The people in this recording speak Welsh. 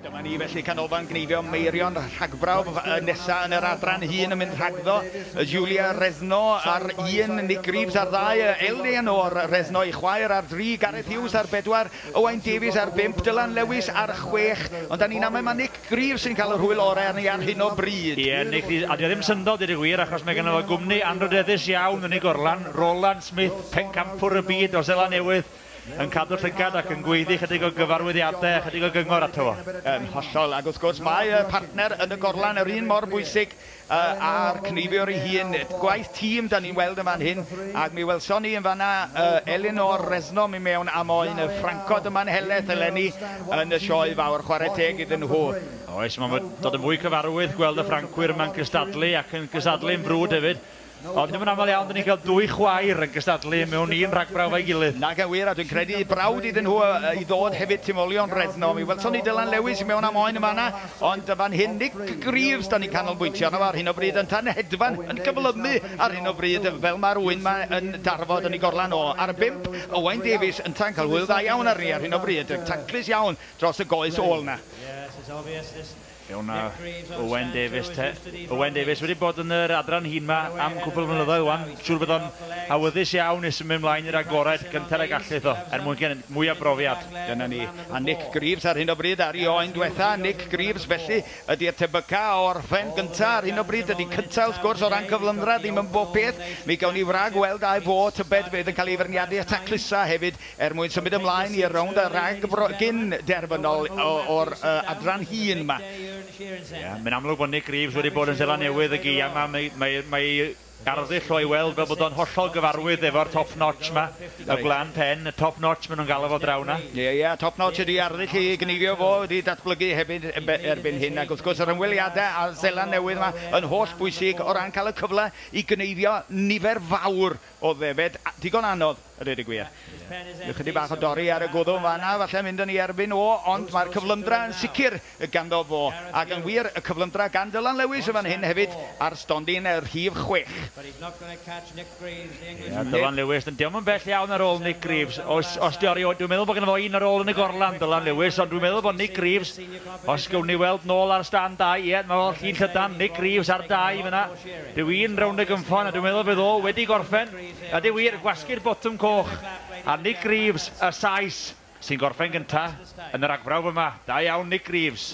Dyma ni felly canolfan gneifio Meirion rhagbrawf y nesa yn yr adran hun yn mynd rhagddo Julia Resno ar un Nick Greaves ar ddau Eleanor Resno ei chwaer ar dri Gareth Hughes ar bedwar Owain Davies ar bump Dylan Lewis ar chwech ond da ni'n amau mae Nick Greaves sy'n cael yr hwyl orau arni ar hyn o bryd. Ie Nick a dio ddim syndod deud y gwir achos mae gynno fo gwmni anrhydeddus iawn yn ei gorlan Roland Smith, pencampwr y byd o Seland Newydd, yn cadw llygad ac yn gweiddi chydig o gyfarwyddiadau a chydig o gyngor ato fo. Yn hollol, ac wrth gwrs mae y partner yn y gorlan yr un mor bwysig â'r cneifiwr ei hun. Gwaith tîm 'dan ni'n weld yn fan hyn, ac mi welson ni yn fan'na Elinor Resno mynd mewn a moyn y ffrancod yma'n helaeth eleni yn y Sioe Fawr, chwarae teg iddyn nhw. Oes, mae'n dod yn fwy cyfarwydd gweld y Ffrancwyr yma'n cystadlu ac yn cystadlu'n frwd hefyd. Ond dim yn aml iawn 'da ni'n cael dwy chwaer yn cystadlu mewn un rhag brawf a'i gilydd. Nage wir, a dwi'n credu y brawd iddyn nhw i ddod hefyd tu ol i Ond Redno. Mi welson ni Dylan Lewis i mewn am oen yn fan'na, ond fan hyn Nick Greaves 'da ni'n canolbwyntio arno fo ar hyn o bryd, yntau'n hedfan, yn cyflymu ar hyn o bryd, fel mae'r ŵyn 'ma yn darfod yn ei gorlan o. Ar y bump, Owain Davies yntau'n cael hwyl dda iawn arni ar hyn o bryd, taclus iawn dros y goes ôl 'na. Ewn na Owen Davies te. Owen Davies wedi bod yn yr adran hŷn 'ma am cwpl o flynyddoedd 'wan. Siŵr bod o'n awyddus iawn i symud ymlaen i'r agored gynta'r y gallu iddo, er mwyn gen- mwy o brofiad. Dyna ni. A Nick Greaves ar hyn o bryd ar 'i oen dwetha. Nick Greaves felly ydi'r tebyca o orffen gynta ar hyn o bryd. Dydi cynta wrth gwrs o ran cyflymdra ddim yn bob peth. Mi gawn ni wrag weld ai fo tybed fydd yn cael ei feirniadu i'r taclusa hefyd. Er mwyn symud ymlaen i'r rownd a rhagbro gyn derfynol o'r adran hŷn 'ma. Ie, mae'n amlwg bod Nick Greaves wedi bod yn Seland Newydd y gaeaf 'ma. Mae ei arddull o ei weld fel bod o'n hollol gyfarwydd efo'r top notch 'ma, y gwlân pen, y top notch maen nhw'n galw fo draw 'na. Ie, ie, top notch ydi arddull ei gneifio fo, wedi datblygu hefyd erbyn hyn, ac wrth gwrs yr ymweliadau â Seland Newydd 'ma yn holl bwysig o ran cael y cyfle i gneifio nifer fawr Oedd e fed, digon anodd, a dweud y gwir. Ryw chydig bach o dorri ar y gwddw yn fan'na falle mynd yn ei erbyn o, ond mae'r cyflymdra yn sicr ganddo fo. Ac yn wir, y cyflymdra gan Dylan Lewis yn fan hyn hefyd ar stondin rhif chwech. Ie, Dylan Lewis, ond 'di o'm yn bell iawn ar ôl Nick Greaves. Os, os 'di o erioed, dwi'n meddwl bod ganddo fo un ar ôl yn y gorlan, Dylan Lewis, ond dwi'n meddwl bod Nick Greaves, os gewn ni weld nôl ar stand dau, ie, 'na fo, llid llydan, Nick Greaves ar dau fan'na. Dw i'n rownd y gynffon a dwi'n meddwl bydd o wedi gorffen. Ydy wir, gwasgu'r botwm coch. A Nick Greaves, y Sais, sy'n gorffen gynta yn yr agfrawf yma. Da iawn Nick Greaves.